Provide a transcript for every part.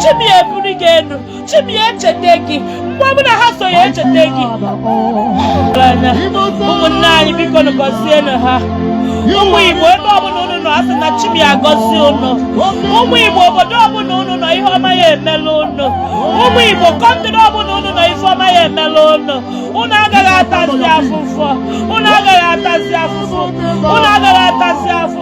chi m ya ebuli gị elu chi m ya echeta gị mgbe ọbụla ha so ya echeta gị anya ụmụnne anyị biko nụ gọzienụ ha ụmụ igbo ebe ọbụla unu nọ asị na chi m ya agọzi unu ụmụ igbo obodo ọbụla unu nọ ihe ọma ya emela unu ụmụ igbo kọntịrị ọbụla unu nọ ife ọma ya emela unu unu agaghị atazi afụfụ unu agaghị atazi afụfụ unu agaghị atazi afụfụ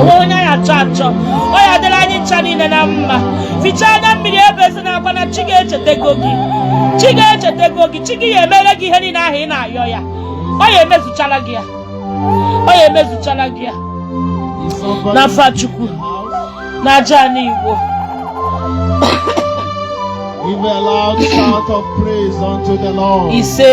o nwee onye anyị achọ achọ ọ ya adịrị anyị ncha niile na mma fichaa anya mmiri ebezina akwa na chi gị echetego gị chi gị echetego gị chi gị ya emere gị ihe niile ahụ ị na-ayọ ya ọ ya emezuchala gị ya ọ ya emezuchala gị ya n'afa chukwu na aja ana igbo ise